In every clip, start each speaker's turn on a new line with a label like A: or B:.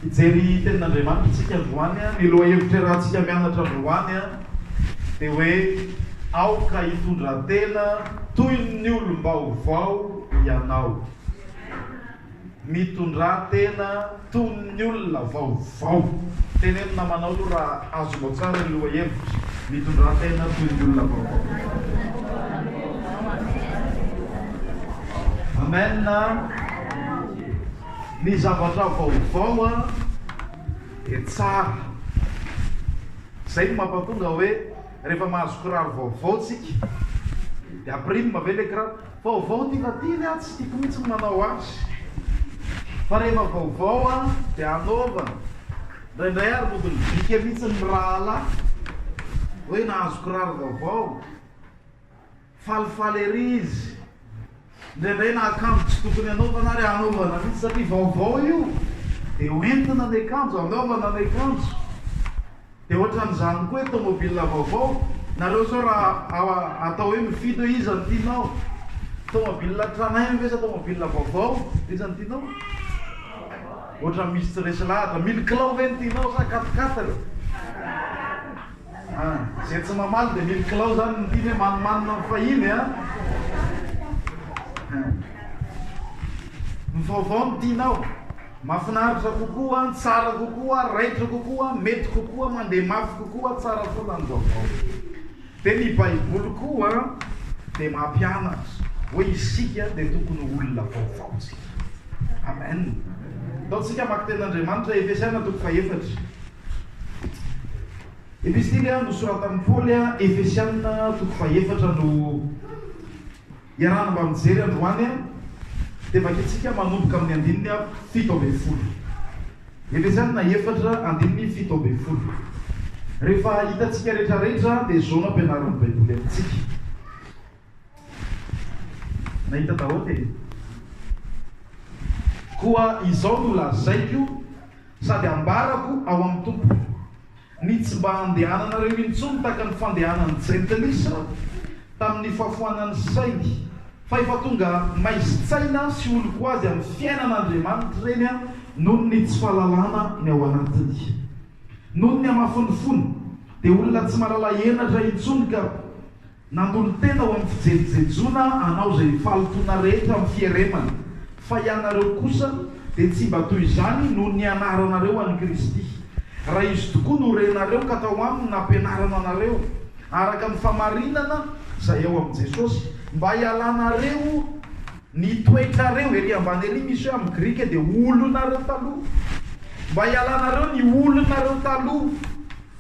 A: Hijery tenin'Andriamanitra isika androany, ny lohahevitra iarahantsika mianatra androany dia hoe Aoka hitondra tena toy ny olom-baovao ianao. Mitondrà tena toy ny olona vaovao. Teneno namanao aloha raha azonao tsara ny lohahevitra, Mitondrà tena toy ny olona vaovao. Amen. Ny zavatra vaovao an dia tsara. Izay no mampatonga hoe rehefa mahazo kiraro vaovao tsika dia ampirime ve le kiraro? Vaovao ty na ty ve aho tsy tiko mihitsy ny manao azy. Fa rehefa vaovao an dia hanaovana. Indraindray ary mody mibika mihitsy ny mirahalahy hoe nahazo kiraro vaovao. Falifaly ery izy. Indraindray na akanjo tsy tokony anaovana ary anaovana mihitsy satria vaovao io dia ho entina ny akanjo, anaovana ny akanjo. Dia ohatran'izany koa hoe tomobile vaovao, nareo izao raha atao hoe mifidy hoe iza no tianao, tomobile tranainy ve sa tomobile vaovao, iza no tianao? Ohatran'ny misy tsy resy lahatra, mille kilao ve no tianao sa quatre-quatre? Ah, zay tsy mamaly de mily kilao zany ny tiany hoe manimanina ny fahiny a. Ny vaovao no tianao. Mafinaritra kokoa, tsara kokoa, raitra kokoa, mety kokoa, mandeha mafy kokoa, tsara foana ny vaovao. De ny baiboly koa de mampianatra hoe isika de tokony ho olona vaovao tsika. Amen. Ataontsika maki-tenin'Andriamanitra Efesiana toko fahefatra. Epistily nosoratan'i Paoly Efesiana toko fahefatra no iarahana mba mijery androany dia vakintsika manomboka amin'ny andininy fito ambin'ny folo. Efesiana efatra andininy fito ambin'ny folo. Rehefa hitantsika rehetrarehetra dia izao no ampianarin'ny Baiboly amintsika. Nahita daholo e! Koa izao no lazaiko sady ambarako ao amin'ny Tompo, ny tsy mba handehananareo intsony tahaka ny fandehanan'ny jentilisa tamin'ny fahafoanan'ny sainy, fa efa tonga maizin-tsaina sy olon-ko azy amin'ny fiainan'Andriamanitra ireny noho ny tsy fahalalana ny ao anatiny. Noho ny hamafin'ny fony, dia olona tsy mahalala henatra intsony ka. Nandolo tena ho amin'ny fijejejona anao izay fahalotoana rehetra amin'ny fieremana, fa hianareo kosa dia tsy mba toy izany noho ny anaranareo an'i Kristy, raha Izy tokoa no renareo ka tao Aminy nampianarana anareo, araka ny famarinana izay ao amin'i Jesosy, mba hialanareo ny toetrareo, ery ambany ery misy hoe amin'ny grika dia olonareo taloha, mba hialanareo ny olonareo taloha.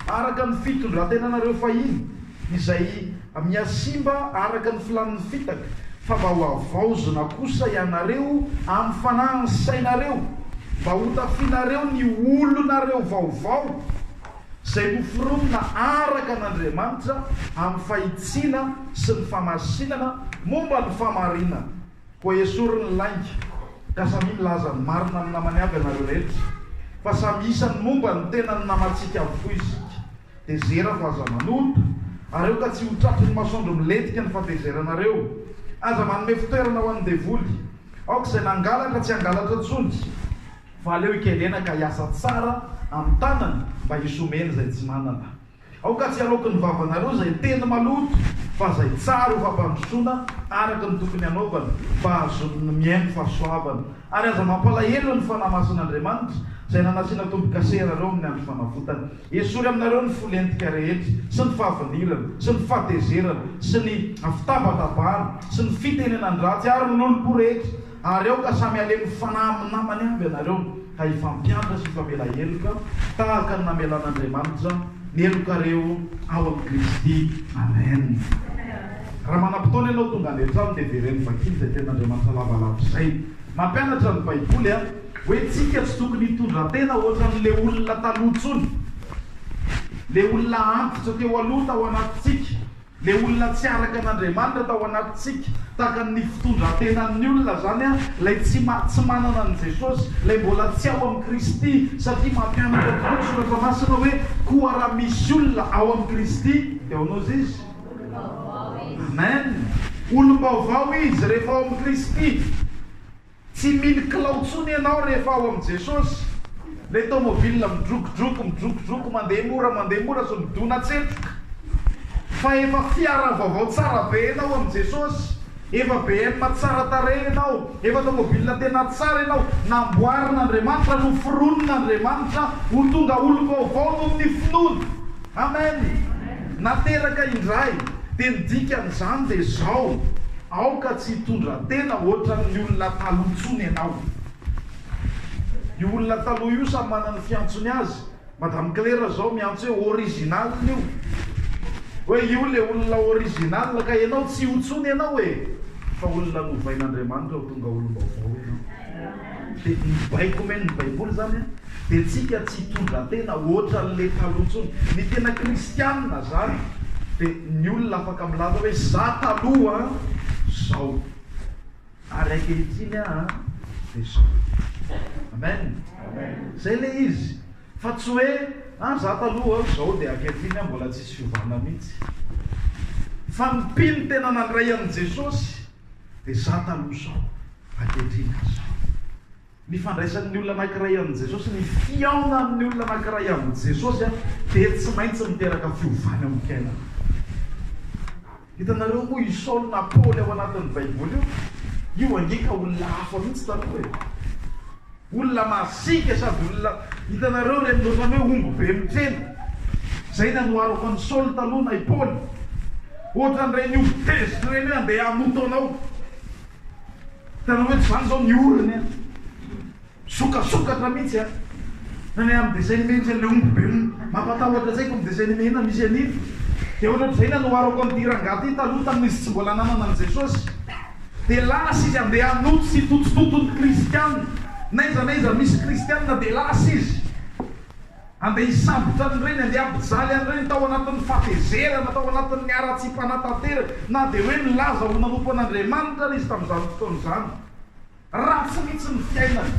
A: Araka ny fitondrantenanareo fahiny, izay mihasimba araka ny filàn'ny fitaka, fa mba ho havaozina kosa ianareo amin'ny fanahin'ny sainareo, mba hotafianareo ny olonareo vaovao, izay noforonina araka an'Andriamanitra amin'ny fahitsiana sy ny famasinana momba ny fahamarinana. Koa esory ny lainga, ka samia milaza ny marina amin'ny namany avy ianareo rehetra, fa samy isany momba ny tena ny namantsika avokoa isika. Tezera fa aza manota, ary aoka tsy ho tratry ny masoandro milentika ny fatezeranareo. Aza manome fitoerana ho an'ny devoly. Aoka izay nangalatra tsy hangalatra intsony, fa aleo hikerena ka hiasa tsara amin'ny tanany mba hisy omeny izay tsy manana. Aoka tsy haloky ny vavanareo izay teny maloto, fa izay tsara ho fampandrosoana araka ny tokony hanaovana, mba hahazoany ny mihaino fahasoavana. Ary aza mampalahelo ny Fanahy Masin'Andriamanitra, izay nanasiana tombo-kase iarareo amin'ny andro fanavotany. Esory aminareo ny fo lentika rehetra, sy ny fahavinirana, sy ny fahatezerana, sy ny fitabatabahana, sy ny fitenenan-dratsy, ary ny lolom-po rehetra. Ary aoka samy halemy fanahy amin'ny namany avy ianareo, ka hifampiantra sy hifamela heloka, tahaka ny namelan'Andriamanitra ny helokareo ao amin'i Kristy. Amen. Raha manam-potoana ianao tonga any an-trano dia veren'ny vakiny izay tenin'Andriamanitra lavalava izay. Mampianatra ny Baiboly an, hoe tsika tsy tokony hitondratena hoatran'ny le olona taloha intsony, le olona antitra teo aloha tao anatintsika. Ilay olona tsy araka an' Andriamanitra tao anatintsika, tahaka ny fitondran-tenan' ny olona izany, ilay tsy tsy manana an'i Jesosy, ilay mbola tsy ao amin'i Kristy, satria mampianatra tokoa ny Soratra Masina hoe, Koa raha misy olona ao amin'i Kristy, dia ahoana ozy izy? Amen! Olom-baovao izy rehefa ao amin'i Kristy. Tsy mino kilao tsony ianao rehefa ao amin'i Jesosy. Ilay tomobil midrokodroko, midrokodroko, mandeha mora, mandeha mora sao midona tsetroka. Fa efa fiara vaovao tsara be ianao amin'i Jesosy. Efa BM tsara tarehy ianao. Efa tomobil tena tsara ianao. Namboarin'Andriamanitra, noforonin'Andriamanitra ho tonga olom-baovao noho ny finoana. Amen! Nateraka indray, dia ny dikan'izany dia izao, aoka tsy hitondra tena hoatran'ny olona taloha intsony ianao. Io olona taloha io samy manana ny fiantsony azy, Madame Claire izao miantso hoe original io, hoe io ilay olona original, ka ianao tsy io intsony ianao e, fa olona novain'Andriamanitra ho tonga olom-baovao ianao. Dia ny baiko omen'ny Baiboly izany dia tsika tsy hitondra tena hoatran'ilay taloha intsony. Ny tena kristianina izany dia ny olona afaka milaza hoe za taloha izao ary ankehitriny aho dia izao. Amen. Izay ilay izy. Fa tsy hoe ah za taloha izao dia ankehitriny aho mbola tsisy fiovana mihitsy. Fa ny mpino tena nandray an'i Jesosy Dia za taloha sao ankehitriny aza. Ny fandraisan'ny olona anankiray an'i Jesosy, ny fihaonan'ny olona anankiray amin'i Jesosy dia tsy maintsy miteraka fiovana eo amin'ny fiainana. Hitanareo moa i Saoly na Paoly ao anatin'ny Baiboly io, io ange ka olona hafa mihitsy taloha e. Olona masiaka sady olona, hitanareo ireny ohatran'ny hoe omby be mitsena, izay nanoharako an'i Saoly taloha na i Paoly, ohatran'ireny omby tezitra ireny hoe andeha hamoto anao, hitanao hoe tsy izany izao ny orony an, misokasokatra mihitsy an, na ny amin'ny dessin animé misy an'ilay omby be mampatahotra izay kony dessin animé inona misy an'iny, dia ohatran'izay nanoharako an'ity rangahy ity taloha tamin'izy tsy mbola nanana an'i Jesosy. Dia lasa izy handeha hanoto sy hitotototo ny kristiana. N'aiza n'aiza misy kristiana dia lasa izy. Handeha hisambotra an'ireny, handeha hampijaly an'ireny tao anatin'ny fahatezerana, tao anatin'ny haratsiam-panatanteraka, na dia hoe nilaza ho nanompo an'Andriamanitra ary izy tamin'izany fotoana izany. Ratsy mihitsy ny fiainany.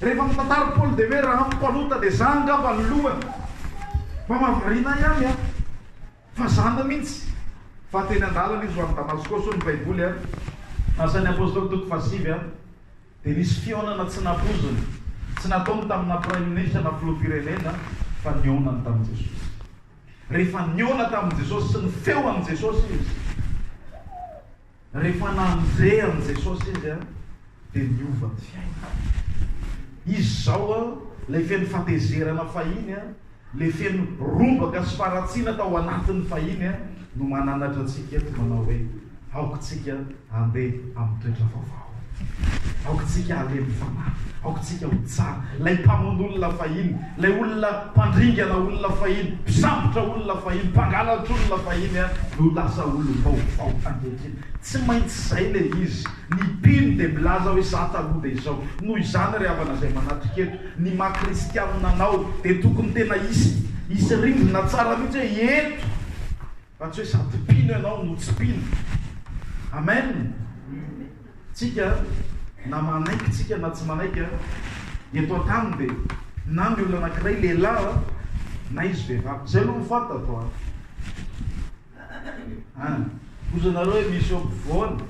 A: Rehefa mitantara Paoly dia hoe, Raha amiko mpanota dia izaho angamba ny lohany. Mamaha variana ihany an! Fa zana mintsy fa teny andalana izy ho any Damasko so ny baiboly a. Asan'ny Apostoly toko fahasivy a dia nisy fihaonana tsy nampoizina, tsy nataony tamina Praiminisitra na Filoham-pirenena fa nihaonany tamin'i Jesosy. Rehefa nihaona tamin'i Jesosy sy nifeho amin'i Jesosy izy. Rehefa nandeha an'i Jesosy izy dia niova ny fiainany. Izy izao ilay feno fatezerana fahiny, ilay feno rombaka sy faharatsiana tao anatiny fahiny no mananatra antsika eto manao hoe, Aoka isika handeha amin'ny toetra vaovao. Aoka isika halemy fanahy. Aoka isika ho tsara. Ilay mpamono olona fahiny, ilay olona mpandringana olona fahiny, mpisambotra olona fahiny, mpangalatr'olona fahiny no lasa olom-baovao ankehitriny. Tsy maintsy izay ilay izy. Ny mpino dia milaza hoe, Izaho taloha dia izao. Noho izany, ry havana izay manatrika eto, ny maha kristianina anao dia tokony tena hisy hisy rindrina tsara mihitsy hoe, Eto! Raha tsy hoe sady mpino ianao no tsy mpino. Amen! Tsika na manaiky tsika na tsy manaiky an, eto an-tany dia na ny olona anankiray lehilahy an, na izy vehivavy. Izay aloha no fantatro an! An! Hozy nareo hoe misy eo ampovoany,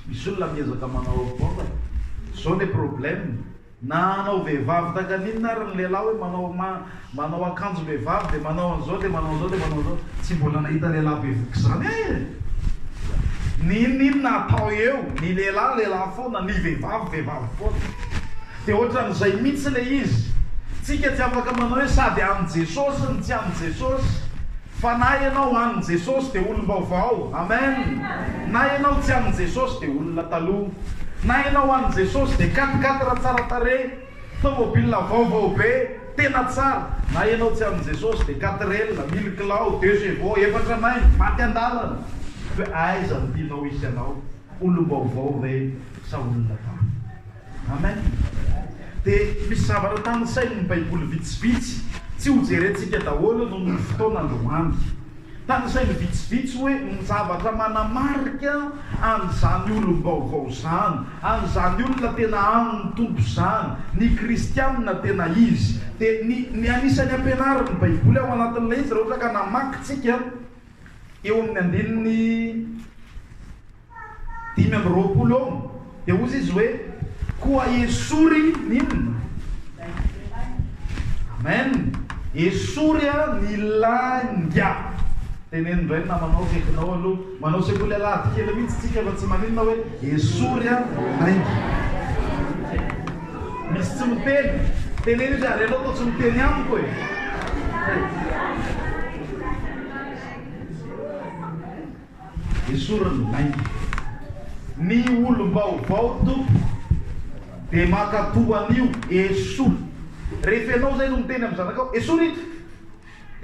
A: misy olona miezaka manao apovoany, zao le problème. Na hanao vehivavy takan'inona ary ny lehilahy hoe manao manao akanjom-behivavy dia manao an'izao dia manao an'izao dia manao an'izao, tsy mbola nahita lehilahy bevoka izany aho e! Ny inon'inona atao eo, ny lehilahy lehilahy foana, ny vehivavy vehivavy foana. Dia ohatran'izay mihitsy ilay izy. Tsika tsy afaka manao hoe sady an'i Jesosy no tsy an'i Jesosy. Fa na ianao amin Jesosy dia olom-baovao. Amen. Na ianao tsy amin Jesosy dia olona taloha. Na ianao amin Jesosy dia quatre quatre tsara tarehy, tomobile vaovao be, tena tsara. Na ianao tsy amin Jesosy dia quatrelle, mille kilao, deux chevaux, efatra nainy, maty an-dalana. Fa aiza no tianao hisy anao, olom-baovao ve sa olona taloha? Amen! Dia misy zavatra tanisain' ny Baiboly vitsivitsy, tsy hojerentsika daholo noho ny fotoana androany. Tanisainy vitsivitsy hoe ny zavatra manamarika an' izany olom-baovao izany, an' izany olona tena amin' ny Tompo izany, ny kristiana tena izy. Dia ny ny anisan'ny ampianarin' ny Baiboly ao anatin' ilay izy raha ohatra ka namaky tsika eo amin' ny andininy dimy amby roapolo eo, dia hozy izy hoe, Koa esory ny inona? Amen! Esory aho ny lainga! Teneno indray ny namanao akaikinao aloha. Manao sekoly alahady kely mihitsy tsika fa tsy maninona hoe, Esory aho ny lainga! Misy tsy miteny. Teneno izy, ary ianao toa tsy miteny amiko e! Hey! Esoriny lainga. Ny olom-baovao Tompo dia mankatò an'io esory. Rehefa ianao izay no miteny amin'ny zanakao, esory ito!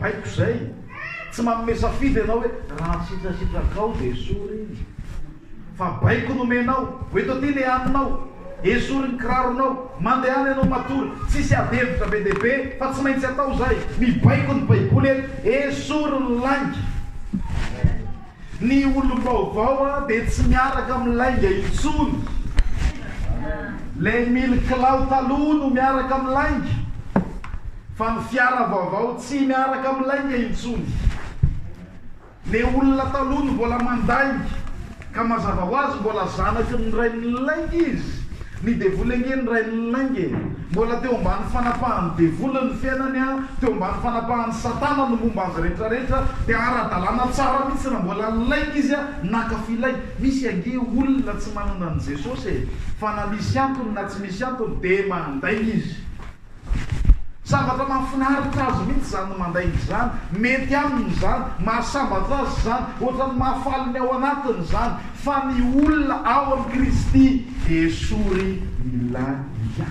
A: Baiko izay. Tsy manome safidy ianao hoe raha ny sitrasitrakao dia esory iny. Fa baiko nomenao. Ho eto aty ilay haninao. Esory ny kiraronao, mandehana ianao matory, tsisy ady hevitra be dia be fa tsy maintsy atao izay, mibaiko ny baiboly eto, esory ny lainga. Ny olom-baovao a dia tsy miaraka amin'ny lainga intsony, ilay mily kilao taloha no miaraka amin'ny lainga, fa ny fiara vaovao tsy miaraka amin'ny lainga intsony. Le olona taloha no mbola mandainga ka mazava ho azy mbola zanaky ny rainilainga izy, ny devoly ange ny rainilainga e, mbola teo ambany fanapahan'ny devoly ny fiainany an, teo ambany fanapahan'i satana ny momba azy rehetra rehetra dia ara-dalàna tsara mihitsy raha mbola nilainga izy an, naka filay, misy ange olona tsy manana an'i Jesosy e, fa na misy antony na tsy misy antony dia mandainga izy. Zavatra mahafinaritra azy mihitsy izany ny mandainga izany, mety aminy izany, mahasambatra azy izany, ohatran'ny mahafaly ny ao anatiny izany, fa ny olona ao amin'i Kristy dia esory ny lalia.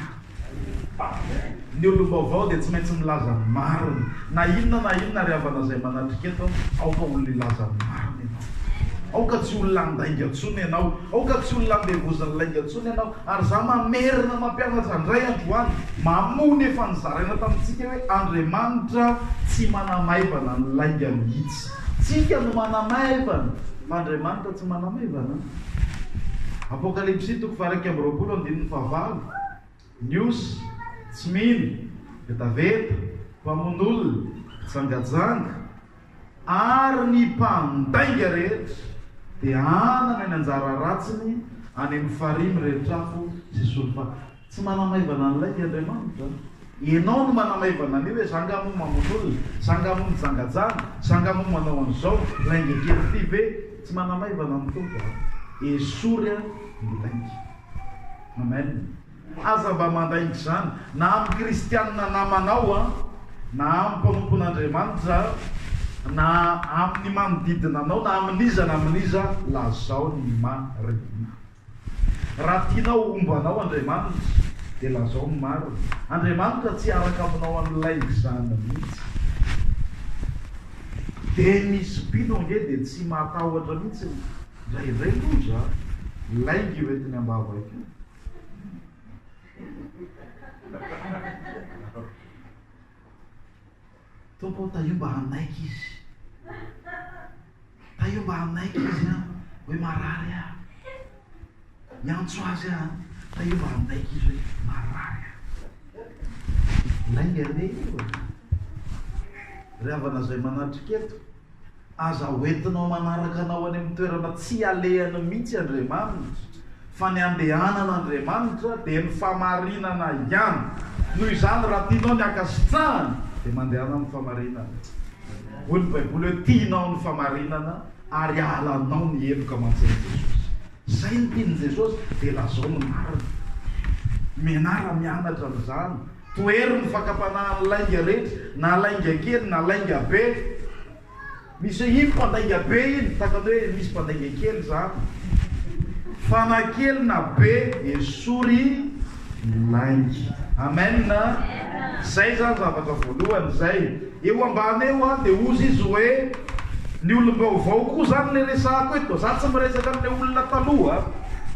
A: Amen. Ny olom-baovao dia tsy maintsy milaza ny marina, na inona na inona ry havana izay manatrika eto, aoka olona hilaza ny marina ianao. Aoka tsy olona handainga intsony ianao, aoka tsy olona handevozin'ny lainga intsony ianao, Ary za mamerina mampianatra ndray androany mamoa nefa nizaraina tamintsika hoe Andriamanitra tsy manamaivana ny lainga mihitsy. Tsika no manamaivana fa Andriamanitra tsy manamaivana. Apokalypsy toko faha iraika amby roapolo andininy faha valo, Niosy, tsy mino, vetaveta, mpamono olona, mpijangajanga, ary ny mpandainga rehetra dia hanana ny anjara ratsiny any amin'ny farihy mirery trafo sy solfa. Tsy manamaivana an'ilay dia Andriamanitra. Ianao no manamaivana an'io hoe zanga moa mamono olona, zanga moa mijangajanga, zanga moa manao an'izao, lainga kely ity ve? Tsy manamaivana ny Tompo an! Esory an ny lainga. Amen. Aza mba mandainga izany na amin'ny kristianina namanao an, na amin'ny mpanompon'Andriamanitra an, na amin'ny manodidina anao, na amin'iza na amin'iza, lazao ny marina. Raha tianao homba anao Andriamanitra dia lazao ny marina. Andriamanitra tsy hiaraka aminao amin'ny laingizany mihitsy. Dennis Pino ange dia tsy matahotra mihitsy ny, indraindray loza lainga io entiny am-bavaka io. Tompo o, tahio mba hanaiky izy. Tahio mba hanaiky izy an, hoe marary aho. Miantso azy aho, tahio mba hanaiky izy hoe marary aho. Lainga re io. Ry havana izay manatrika eto, Aza hoentinao manaraka anao any amin'ny toerana tsy alehany mihitsy Andriamanitra, fa ny andehanana Andriamanitra dia ny famarinana ihany. Noho izany, raha tianao ny ankasitrahany, dia mandehana amin'ny famarinana. Hoy ny Baiboly hoe, Tianao ny famarinana, ary halanao ny heloka aman-tsain'i Jesosy. Izay no tian'i Jesosy dia lazao ny marina. Mianara mianatra amin'izany. Tohero ny fakam-panahin'ny lainga rehetra, na lainga kely na lainga be. Misy iny mpandainga be iny, tahaka ny hoe misy mpandainga kely izany. Fa na kely na be, esory ny lainga. Amen! Izay izany zavatra voalohany izay. Eo ambany eo a dia hozy izy hoe ny olom-baovao koa zany le resahako eto, za tsy miresaka anle olona taloha,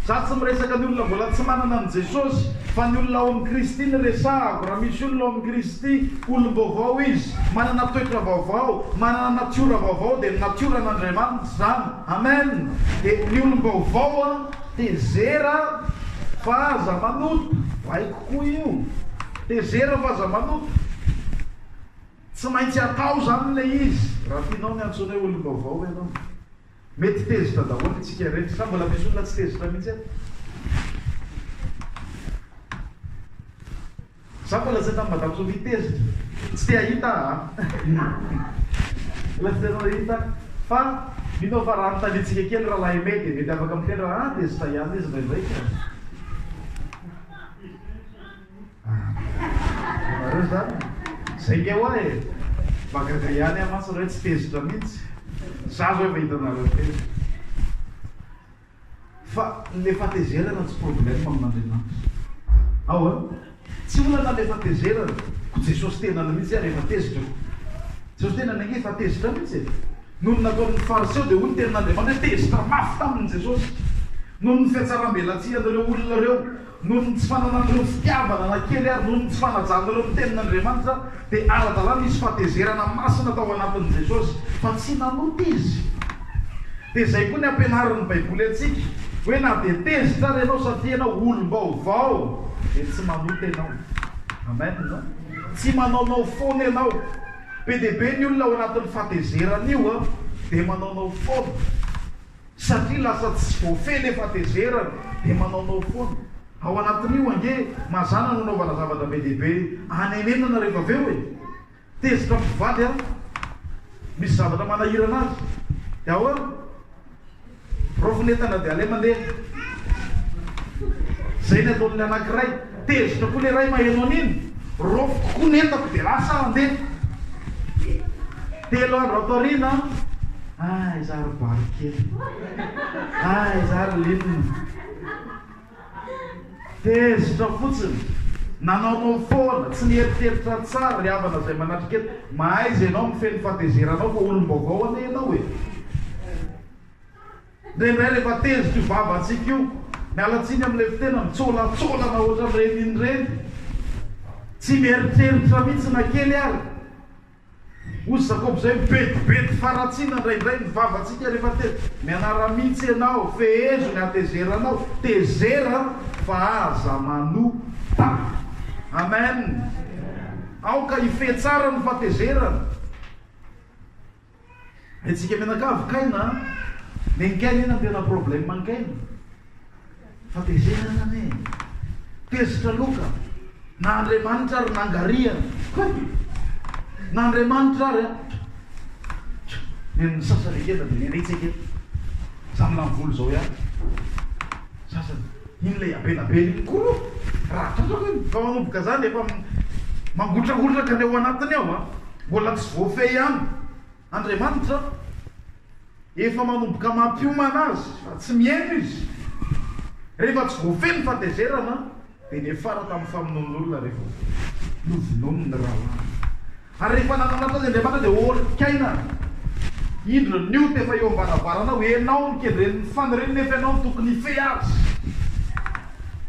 A: za tsy miresaka ny olona mbola tsy manana an'i Jesosy fa ny olona ao amin'i Kristy no resahako, raha misy olona ao amin'i Kristy, olom-baovao izy, manana toetra vaovao, manana natiora vaovao dia ny natioran'Andriamanitra izany, amen, dia ny olom-baovao a, tezera fa aza manota, baiko koa io, tezera fa aza manota. Tsy maintsy atao izany ilay izy raha tianao ny antsoinay ho olom-baovao ianao. Mety tezitra daholo isika rehetra, sa mbola misy olona tsy tezitra mihitsy eto? Za mbola tsy hitan'i Madame Sophie tezitra. Tsy te hahita aho an! Mbola tsy te hahita. Fa mino aho fa raha anontaniantsika kely Rahalahy Aimé dia mety afaka miteny raha, ah, tezitra ihany izy indraindray ka. Nareo zany zay nge hoa e! Mahagaga ihany aho mantsy re tsy tezitra mihitsy za zao efa hitanareo telo fa le fatezerana tsy problème amin'Andriamanitra ao an! Tsy olana le fatezerana ko Jesosy tenany mihitsy ary efa tezitra ko Jesosy tenany ange efa tezitra mihitsy e! Noho ny nataon'ny fariseo dia hoy ny tenin'Andriamanitra hoe tezitra mafy taminy Jesosy noho ny fihatsaram-belatsihan'ireo olona ireo Noho ny tsy fananan'ireo fitiavana na kely ary noho ny tsy fanajan'ireo ny Tenin'Andriamanitra, dia ara-dalàna nisy fahatezerana masina tao anatin'i Jesosy, fa tsy nanota Izy. Dia izay koa ny ampianarin'ny Baiboly antsika, hoe na dia tezitra ary ianao satria ianao olom-baovao, dia tsy manota ianao. Amen. Tsy manaonao foana ianao. Be dia be ny olona ao anatin'ny fahatezeran'io, dia manaonao foana. Satria lasa tsy voafehy le fatezerana de manaonao foana. Ao anatin'io ange mazana no anaovana zavatra be dia be anenenana rehefa avy eo e! Tezitra amin'ny mpivady an! Misy zavatra manahirana azy de ahoana? Raofy ny entana de aleo mandeha! Zay ny ataon'ny anankiray. Tezitra koa le ray maheno an'iny, raofiko koa ny entako de lasa aho handeha. Telo andro ato aoriana, ay za ry bary kely, ay za ry linina. Tezitra fotsiny, nanaonao foana, tsy nieritreritra tsara ry havana izay manatrika eto, mahaiza ianao mifehy ny fatezeranao fa olom-baovao anie ianao e. Indraindray rehefa tezitra io vavantsika io, miala tsiny amin'ilay fitena mitsolatsolana ohatran'ireny iny ireny, tsy mieritreritra mihitsy na kely ary. Hoy Jacob izay, Mibedibedy faratsiana indraindray ny vavantsika rehefa tezitra. Mianara mihitsy ianao, fehezo ny hatezeranao, tezera fa aza manota. Amen! Aoka hifehy tsara ny fahatezerana. Hetsika mianakavy kay na Neny kay anie nandena problème ankaina fa tezena zany e Tezitra loka na Andriamanitra ary nangariany Hoy na Andriamanitra ary an Neny ny sasany ekena dia neny hetsika eto Za milany volo zao ihany Sasany Iny ilay ampelabela iny koa aloha raha trotraka iny fa manomboka zany efa mangotrakotraka ny ao anatiny ao a! Mbola tsy voafehy ihany Andriamanitra efa manomboka mampiomana azy fa tsy mihaino izy rehefa tsy voafehy ny fatezerana dia niafara tamin'ny famonoan'olona rehefa novonoiny ny rahalahin'ny Ary rehefa nananatra azy Andriamanitra dia olik'aina indro ny ota efa eo am-baravaranao, ianao no kendren'ny fany reny nefa ianao no tokony hifehy azy.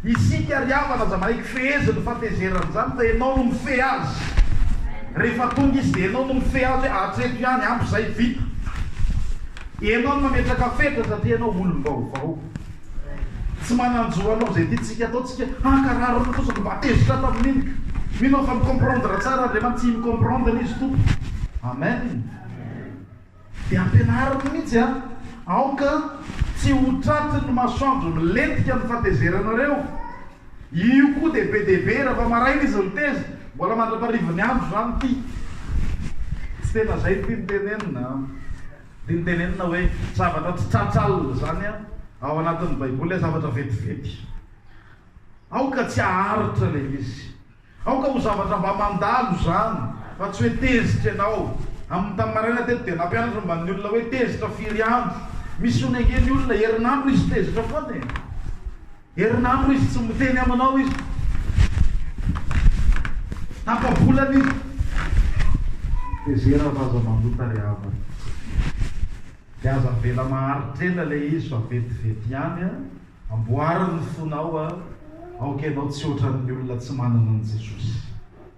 A: Isika ry havana aza manaiky feheziny fahatezerana izany fa ianao no mifehy azy. Rehefa tonga izy dia ianao no mifehy azy hoe hatreto ihany, ampy izay, vita. Ianao no mametraka fetra satria ianao olom-baovao. Tsy manan-jo hanao izay tiantsika atao tsika, hankarary ny fozony mba hevitra tamin'iny. Mino aho fa mi-comprendre tsara Andriamanitra sy hi-mi-comprendre Izy Tompo. Amen. Dia ampianariny mihitsy an! Aoka tsy ho tratry ny masoandro milentika ny fatezeranareo. Io koa dia be dia be, raha vao maraina izy miteza, mbola mandra-paharivin'ny andro izany ity. Tsy tena izay ity no tenenina an! Dia notenenina hoe, Zavatra tsy tratra alina izany ao anatin'ny Baiboly, ilay zavatra vetivety. Aoka tsy haharitra ilay izy. Aoka ho zavatra mba mandalo izany, fa tsy hoe tezitra ianao. Amin'ny tamin'ny maraina teto dia nampianatra momba ny olona hoe tezitra firy andro. Misy onenge ny olona, herinandro izy tezitra foana e! Herinandro izy tsy miteny aminao izy. Tapa-bolana izy. Tezera fa aza manota ry havana. Dia aza avela maharitra ela ilay izy fa vetivety ihany an. Amboary ny fonao an. Aoka ianao tsy ohatran'ny olona tsy manana an'i Jesosy.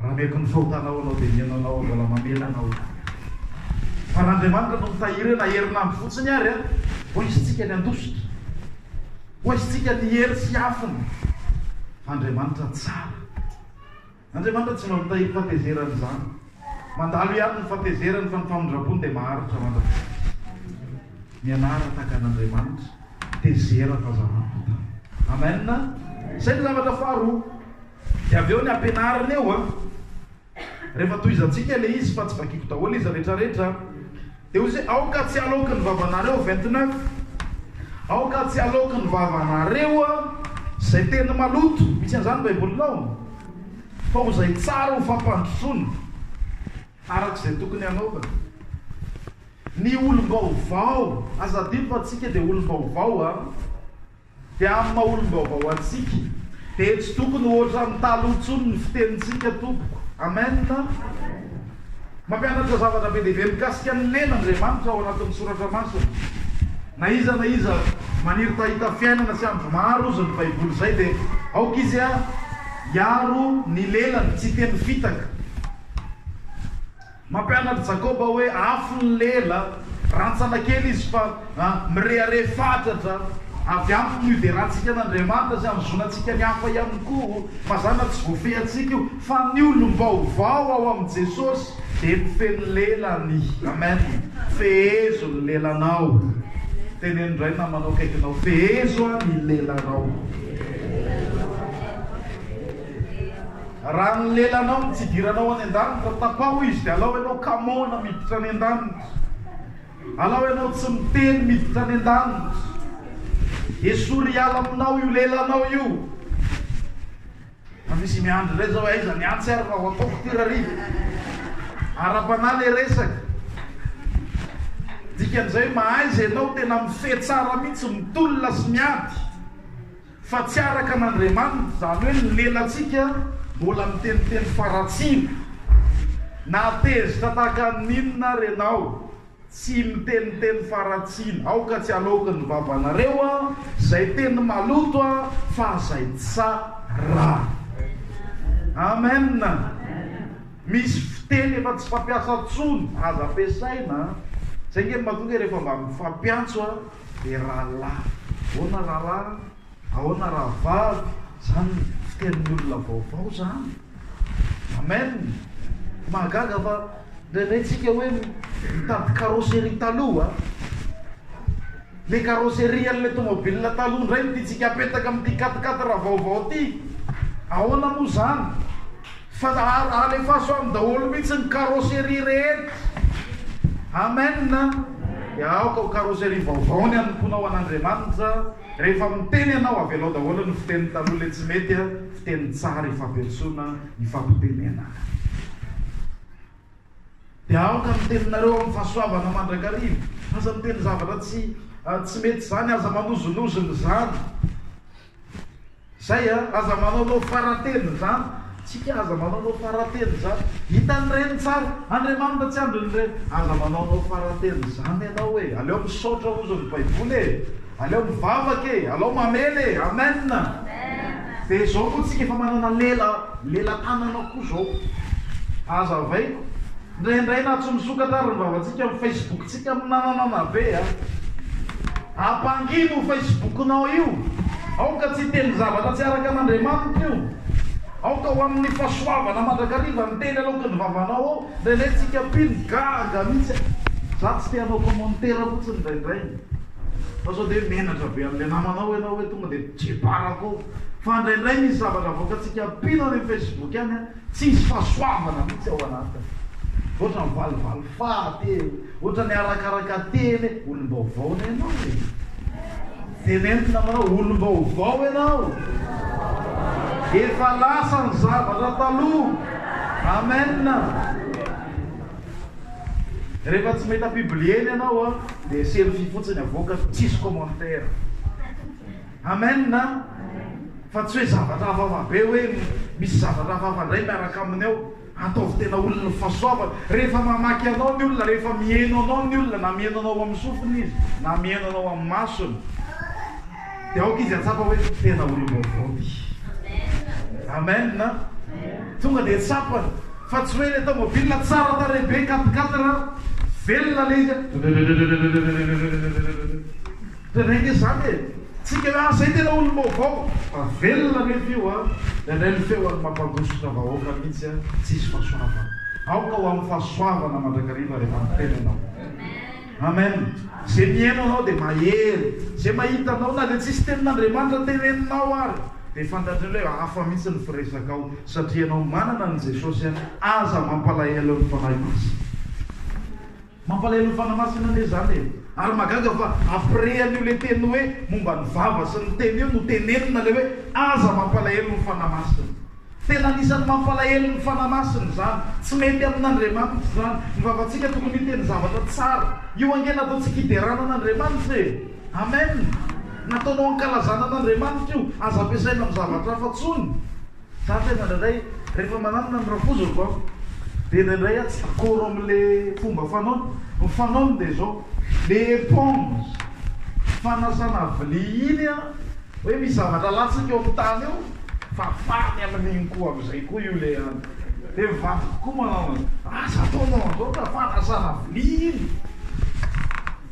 A: Raha mety ny fahotanao anao dia mihaino anao aho mbola mamela anao ihany aho. Fa r'Andriamanitra no mitahiry eo na herinandro fotsiny ary an! ho aisintsika ny handositra. Ho aisintsika ny hery sy afony. Fa Andriamanitra tsara. Andriamanitra tsy mba mitahiry fatezerana izany. Mandalo ihany ny fatezerany fa ny famindram-pony dia maharitra mandrakizay. Mianara tahaka an'Andriamanitra, tezera fa zava-potan. Amen! Izay ny zavatra faharoa. Dia avy eo ny ampianarina eo an! Rehefa tohizantsika ilay izy fa tsy vakiako daholo izy rehetrarehetra an! Dia hoy izy hoe, aoka tsy haloaky ny vavanareo, 29, aoka tsy haloaky ny vavanareo izay teny maloto, misy an'izany ny Baibolinao? fa ho izay tsara ho fampandrosoana araka izay tokony hanaovana. Ny olom-baovao, aza adino fa tsika dia olom-baovao an! Dia amin'ny maha olom-baovao antsika dia tsy tokony ho ohatran'ny taloha intsony ny fitenintsika tompoko. Amen. Mampianatra zavatra be dia be mikasika an'i Lena Andriamanitra ao anatin'ny soratra masina. Na iza na iza maniry tahita fiainana sy andro maro ozy ny baiboly izay dia aoka izy hiaro ny lelany tsy hiteny fitaka. Mampianatra Jakoba hoe afo ny lela, rantsana kely izy fa mirehareha fatratra. Avy aminy no iderantsika an'Andriamanitra sy ahazoana antsika ny hafa ihany koa. Mazàna tsy voafehy antsika io, fa ny olom-baovao ao amin'i Jesosy dia mifehy ny lelany. Amen! Fehezo ny lelanao. Teneno indray namanao akaikinao, Fehezo ny lelanao. Raha ny lelanao no tsidiranao any an-danitra, tapaho izy dia alao ianao kamaona miditra any an-danitra. Alao ianao tsy miteny miditra any an-danitra. Esory hiala aminao io lelanao io. Fa misy miandry indray izao hoe aiza ny antsy ary raha ho ataoko ity ra ry. Ara-panahy ilay resaka. Dikan'izay hoe mahaiza ianao tena mifehy tsara mihitsy, mitolona sy miady. Fa tsy araka an'Andriamanitra, izany hoe ny lelantsika mbola miteniteny faratsiana. Na tezitra tahaka ny inona ary ianao, tsy miteniteny faratsiana. Aoka tsy halaoky ny vavanareo an, izay teny maloto an, fa izay tsara. Amen. Misy fiteny efa tsy fampiasa intsony, aza ampiasaina an. Izay ange no mahatonga rehefa mba mifampiantso an. dia rahalahy. Ahoana rahalahy? Ahoana rahavavy? Izany no fitenin'ny olona vaovao izany. Amen. Mahagaga fa indraindray tsika hoe mitady carrosserie taloha. Le carrosserie an'ilay tomobile taloha indray ny tiantsika apetaka amin'ity katikaty raha vaovao ity. Ahoana moa izany? Fa alefaso aminy daholo mihitsy ny carrosserie rehetra. Amen. Dia aoka ho carrosserie vaovao ny hanompoanao an'Andriamanitra. Rehefa miteny ianao, avelao daholo ny fiteny taloha ilay tsy mety, fiteny tsara ifampiantsoana, ifampitenenana. Dia aoka ny teninareo amin'ny fahasoavana mandrakariva. Aza miteny zavatra tsy mety izany, aza manozonozona izany. Zay a, aza manaonao faratelony zany tsika aza manaonao faratelony zany hitan'ny reny tsara Andriamanitra tsy andrin'ny reny aza manaonao faratelony zany enao e aleo misaotra ozon'ny baiboly e aleo mivavaka e alao mamela e amen de zao moa tsika efa manana lela lela tanana koa zao aza avaiko Indraindray na tsy misokatra ary ny vavantsika amin'ny Facebook-tsika minananana ve a! Ampangino io Facebook-nao io, aoka tsy hiteny zavatra tsy araka an'Andriamanitra io, aoka ho amin'ny fahasoavana mandrakariva ny teny aloky ny vavanao ao, indraindray tsika mpino gaga mihitsy a! Za tsy te hanao commentaire fotsiny indraindray fa sao dia menatra be an'ilay namanao ianao hoe tonga dia jebarako ao, fa indraindray misy zavatra avoakantsika mpino any amin'ny Facebook any a! Tsisy fahasoavana mihitsy ao anatiny. Ohatran ny valivalo faha telo. Ohatra ny arakaraka teny e. Olombaovao ny anao e. Teneno namanao olombaovao ianao. Efa lasa ny zavatra taloha. Amen. Rehefa tsy mahita publier ny anao a, dia selfie fotsiny avoakany, tsisy commentaire. Amen a! Fa tsy hoe zavatra hafahafa be hoe misy zavatra hafahafa indray miaraka aminy ao. Ataovy tena olon'ny fahasoavana. Rehefa mamaky anao ny olona, rehefa miheno anao ny olona, na miheno anao amin'ny sofiny izy, na miheno anao amin'ny masony, dia aoka izy hahatsapa hoe tena olom-baovao ity. Amen a! Tonga dia tsapany. Fa tsy hoe ilay tômôbila tsara tarehy be, quatre-quatre, velona ilay izy an. Dia indraindray izany e! Tsika hoe ah zay tena olom-baovao! Fa velona anefa io an! Indraindray ny feony mampandositra vahoaka mihitsy an! Tsisy fahasoavana! Aoka ho amin'ny fahasoavana mandrakariva rehefa miteny ianao. Amen! Izay mihaino anao dia mahery! Izay mahita anao na dia tsisy tenin'Andriamanitra teneninao ary dia fantatriny hoe hafa mihitsy ny firesakao satria ianao manana an'i Jesosy an! Aza mampalahelo ny fanahy masina! Mampalahelo fanamasina anie zany e! Ary magaga fa après an'io le teny hoe momba ny vava sy ny tena io no tenenina le hoe aza mampalahelo ny fanahy masina. Tena anisan'ny mampalahelo ny fanahy masina izany. Tsy mety amin'Andriamanitra izany. Ny vavantsika tokony hiteny zavatra tsara. Io ange nataontsika hiderana an'Andriamanitra e! Amen! Nataonao hankalazana an'Andriamanitra io. Aza ampiasaina amin'ny zavatra hafa intsony. Za tena indraindray rehefa mananona ny rafozako an, dia indraindray an tsy d'accord amin'le fomba fanaony, ny fanaony dia izao, le éponge fanasana vilia iny an, hoe misy zavatra latsaka eo amin'ny tany eo, fafany amin'iny koa amin'izay koa io le an, dia ny vadiko koa manao an'izay, aza ataonao an'izao ka, fanasana vilia iny,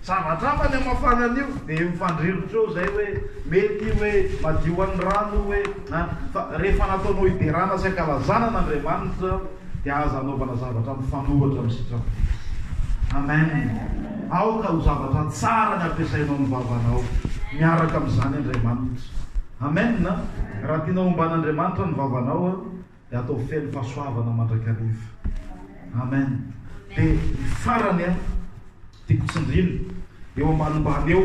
A: zavatra hafa ny hamafana an'io, dia mifandrirotra eo izay hoe mety io hoe madio an'ny rano io hoe. Na fa rehefa nataonao hiderana sy hankalazana an' Andriamanitra dia aza anaovana zavatra mifanoratra amin'ny sitrapon'i Kristy. Amen. Aoka ho zavatra tsara ny ampiasainao ny vavanao miaraka amin'izany Andriamanitra. Amen. Raha tianao homba an' Andriamanitra ny vavanao. Dia atao feno fahasoavana mandrakariva. Amen. Dia ny farany an, tiako tsindrina eo ambanimbany eo,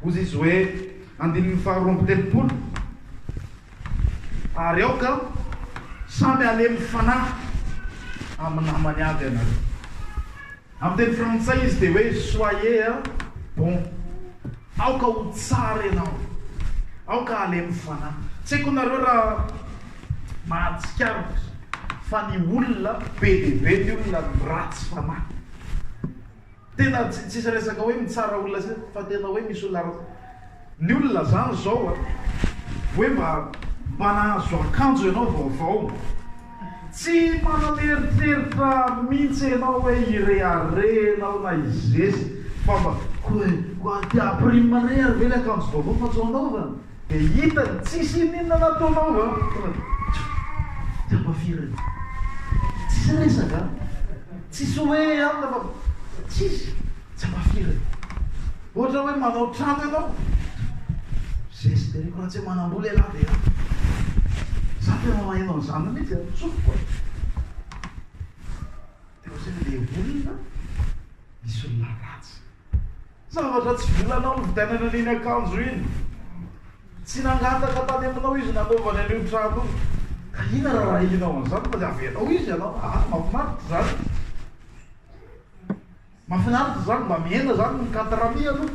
A: hozy izy hoe, andininy faharoa amby telopolo, Ary aoka samy halemy fanahy amin'ny namany avy ianareo. Amin'ny teny frantsay izy dia hoe soyez bon, aoka ho tsara ianao, aoka halemy fanahy. Tsy haiko nareo raha mahatsikaritra fa ny olona be dia be ny olona ratsy fanahy. Tena tsisy resaka hoe mitsara olona sy fa tena hoe misy olona ratsy. Ny olona zany izao a, hoe mba mba nahazo akanjo ianao vaovao, tsy manana eritreritra mintsy ianao hoe hirehareha ianao na hizesy fa mba ko koa aty à prime re ary ve le akanjo vaovao fa tsy ho anaovana? de hitany tsisy ininona na to anaova a, tonga de tjo, tsy apa firy re, tsisy resaka a, tsisy hoe amina fa tsisy. Tsy mahafiry e! Ohatra hoe manao trano ianao, zesy dia rehefa tsy manam-bola ialahy dia ela. Za tena maheno an'izany mihitsy e, tsofiko e! Dia ohatran'ny le olona misy olona ratsy. Zavatra tsy volanao novidianana an'iny akanjo iny. Tsy nangataka tany aminao izy nanaovany an'io trano io. Ka inona raha arahinao an'izany fa dia avelao izy ianao? Aa mahafinaritra izany. Mafinaritra izany, mba mihena izany ny cadre mi aloha.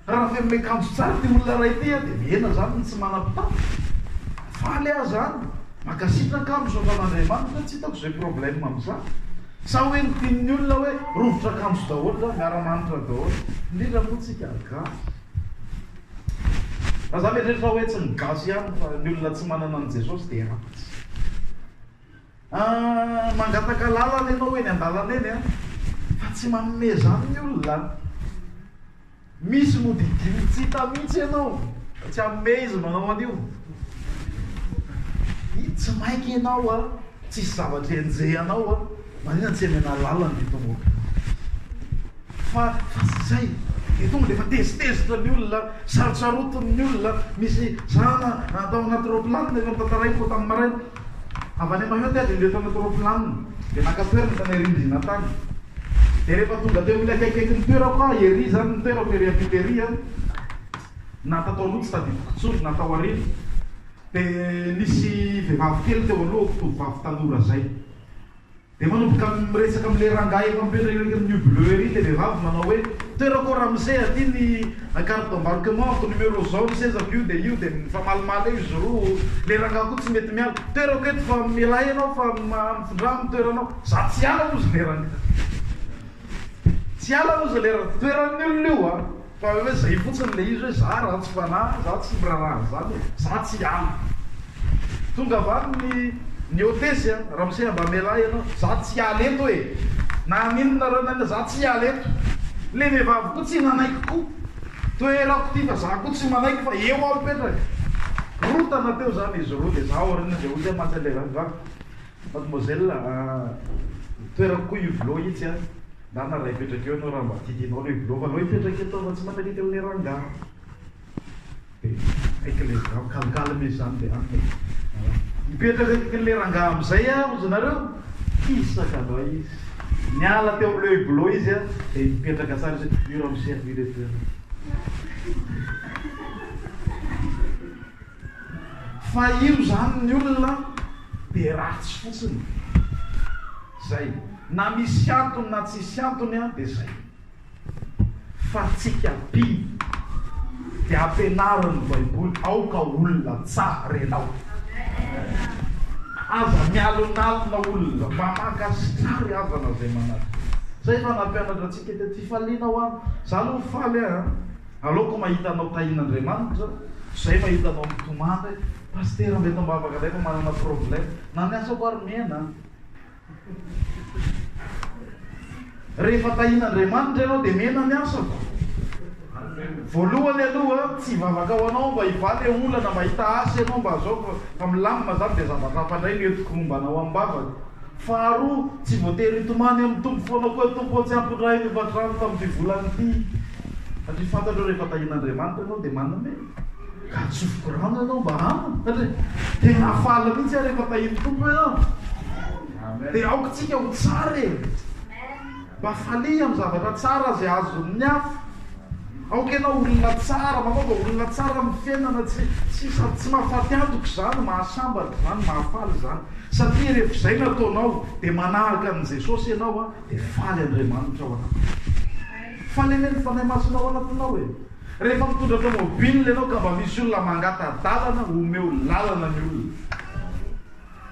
A: Raha feno miakanjo tsara ity olona iray ity dia mihena izany ny tsy manam-pitafy. Faly aho izany. Mankasitraka, misaotra an'Andriamanitra, tsy hitako izay problème amin'izany. Sa hoe ny tian'ny olona hoe rovitra akanjo daholo izany, miara-manitra daholo. Indrindra moa tsika gasy. Fa za mieritreritra hoe tsy ny gasy ihany fa ny olona tsy manana an'i Jesosy dia ratsy. Ahh mangataka lalana ianao eny andalana eny an! Fa tsy manome izany ny olona an! Misy nodidiany tsy hita mihitsy ianao fa tsy hanome izy manao an'io! Hi tsy maika ianao an! Tsisy zavatra enjehanao an! Maninona tsy emena lalana ny tomobilina? Fa fa tsy izay dia tonga dia efa tezitezitra ny olona an! Sarotsarotiny ny olona an! Misy zana tao anaty raoplanina efa notantaraiko tamin'ny maraina. Avy any Mayotte ady indreo mpanao tôrôplanina dia naka toerana tany Arindrina tany. Dia rehefa tonga teo amin'ilay akaikaiky ny toerako aho, ery izany ny toerako, ery ampita ery an, na tato aloha tsy tadidiko intsony na tao aoriana, dia nisy vehivavy kely teo alohako, tovovavy tanora izay. Dia manomboka miresaka amin'ilay rangahy efa mipetraka eo akaikin'ny New Bleu ery ilay vehivavy manao hoe, Toerako ao ramose aty ny carte d'embarquement-ko, numéro izao ny sezako io dia io dia mifamalimaly eo izy roa, ilay rangahy koa tsy mety miala, Toerako eto fa mialà ianao fa mifindrà amin'ny toeranao, za tsy hiala hozy ilay rangahy, tsy hiala hozy ilay rangahy, toeran'ny olona io a! Fa hoe zay fotsiny le izy hoe za ratsy fanahy za tsy miraraha an'zany e, za tsy ala. Tonga avy any ny ny hotesse a, ramose a mba amelà ianao, za tsy hiala eto e, na amin'inona ra na inona za tsy hiala eto. Le vehivavy koa tsy nanaiky koa, toerako ty fa za koa tsy manaiky fa eo aho mipetraka. Rotana teo zany izy roa de za aoriana de hoy aho mantsy an'le vehivavy, Mademoiselle a, ny toerako koa io vlo itsy a, na na raha hipetraka eo ianao raha mba titinao aloha io vlo fa aleo hipetraka eto aho fa tsy mankaiky an'ilay rangahy dia aiky ilay vlo calme izany dia an e, hipetraka akaiky an'ilay rangahy amin'izay aho hozy nareo, kisaka angaha izy, niala teo amin'ilay hublot izy a, dia nipetraka tsara izy hoe io ramose aloha ireto eo. Fa io zany ny olona dia ratsy fotsiny. Zay. Na misy antony na tsisy antony an dia zay. Fa tsika mpino dia ampianarin ny baiboly aoka olona tsar enao. Aza mialonalona olona mba maka star havana zay manatona. Zay efa nampianatra tsika tety. Fifaliana ho an. Za aloha faly an. Aleoko mahita anao tahin'Andriamanitra zay mahita anao mitomany hoe Pasitera mety ambavaka indray fa manana problème. Na ny asako ary mihena an! Rehefa tahin'Andriamanitra ianao dia mihena ny asako. Voalohany aloha tsy hivavaka ho anao mba hivaha le olana mba hita asa ianao mba azao fa milamina zany dia zavatra hafa indray no entiko momba anao amim-bavaka. Faharoa tsy voatery hitomany amin'ny Tompo foana koa Tompo ô tsy ampondrahiko io vatorano tamin'ity volana ity. Satria fantatrao rehefa tahian'Andriamanitra ianao dia manome. Ka atsofoky rano ianao mba hanana. Satria dia mahafaly mihitsy aho rehefa tahian'ny Tompo ianao. Dia aoka tsika ho tsara e. Mba falia amin'ny zavatra tsara izay azon'ny hafa. Aoka ianao olona tsara, manaova olona tsara amin'ny fiainana, tsy tsy sady tsy mahafaty antoka izany, mahasambatra izany, mahafaly izany. Satria rehefa izay no ataonao dia manahaka an'i Jesosy ianao dia faly Andriamanitra ao anatiny. Fa le mena fanahy masinao anatinao e! Rehefa mitondra tomobile ianao ka mba misy olona mangata dalana omeo lalana ny olona.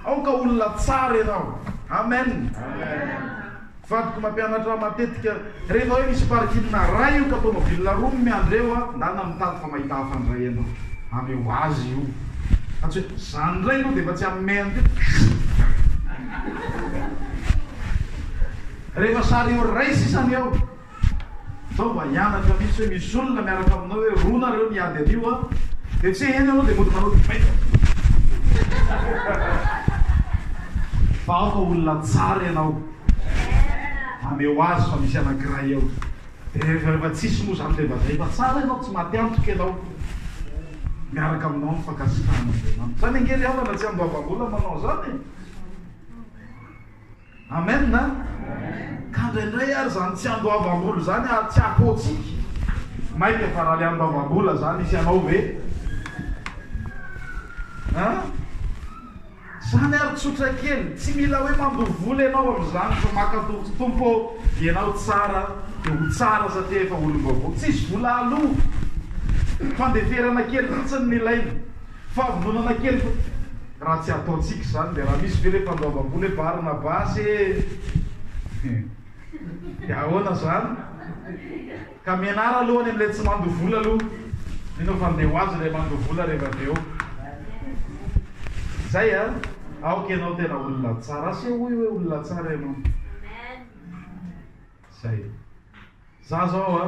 A: Aoka olona tsara ianao. Amen. Vadiko mampianatra ahy matetika rehefa hoe misy parking raha io ka tomobile roa no miandry eo a ndana mitady fa mahita hafa ndray ianao. Amy ho azy io. Fa tsy hoe zany ndray aloha dia efa tsy hamehy an'ty. Rehefa sary eo iray sisa ny eo. Zao mba hianatra mihitsy hoe misy olona miaraka aminao hoe roa nareo ny ady anio an, dia tsy heno ianao dia mody manao debate. Fa ao fa olona tsara ianao, maneho azy fa misy anankiray eo. Dia rehefa rehefa tsisy moa izany dia mba zay fa tsara ianao, tsy maty antoka ianao. Miaraka aminao ny fankasitrahan'Andriamanitra. Izany ange ry havana tsy andoavam-bola manao izany e. Amen a! Ka ndraindray ary zany tsy andoavam-bola zany ary tsy apotsiky, maika fa raha le andoavam-bola zany hisy anao ve? An! Zany ary tsotra kely, tsy mila hoe mandoa vola enao amizany fa maka toky Tompo ô, enao tsara de ho tsara satria efa olom-baovao, tsisy vola aloa, fandeferana kely fotsiny no ilaina. Fahavononana kely fa raha tsy ataontsika izany dia raha misy ve ilay mpandoavam-bola hoe Barnabasy e! dia ahoana izany? Ka mianara aloha any amin'ilay tsy mandoa vola aloha, mino aho fa handeha ho azy ilay mandoa vola rehefa avy eo. Izay an! Aoka ianao tena olona tsara, asehoy hoe olona tsara ianao. Izay. Za zao a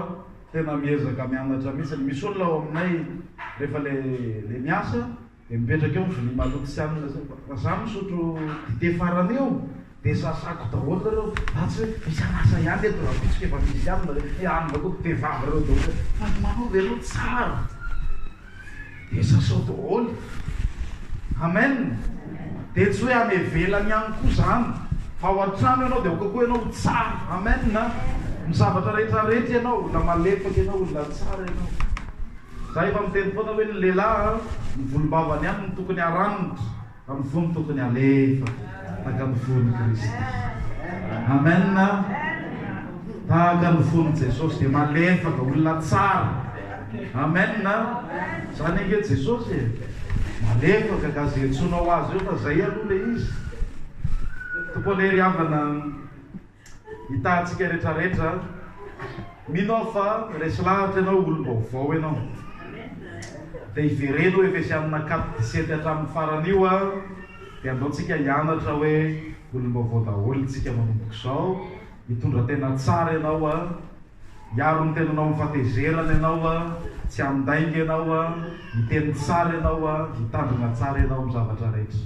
A: tena miezaka mianatra mihitsiny, misy olona ao aminay rehefa le le miasa de mipetraka eo ny vilia maloto sy anona zay, raha za misotro dite farany eo de sasako daholo nareo fa tsy hoe misy an'asa ihany eto, raha vitsy k'efa misy anona, le anona koa dite vava reo daholo, fa ny manova ianao tsara. Dia sasao daholo. Amen. Dia tsy hoe any ivelany ihany koa izany, fa ao an-trano ianao dia aoka koa ianao ho tsara. Amen. Amin'ny zavatra rehetra rehetra ianao, olona malefaka ianao, olona tsara ianao. Izaho efa miteny foana hoe ny lehilahy, ny volombavany ihany no tokony haranitra. Amivony tokony alefa taka ny vony kristy amen tahaka ny vony jesosy dia malefaka olona tsara amen zany ange jesosy e malefaka ka ze tsonao azy eo fa zay aloha le izy toko lery havana Hitahantsika retraretra an. Mino aho fa resy lahatra ianao olom-baovao ianao. Dia hivereno Efesianina quat dix-sept hatramin'ny farany io an, dia andao tsika hianatra hoe olom-baovao daholo itsika manomboka izao, hitondra tena tsara ianao an, hiaro ny tenanao amin'ny fatezerana ianao an, tsy handainga ianao an, hiteny tsara ianao an, hitandrina tsara ianao amin'ny zavatra rehetra.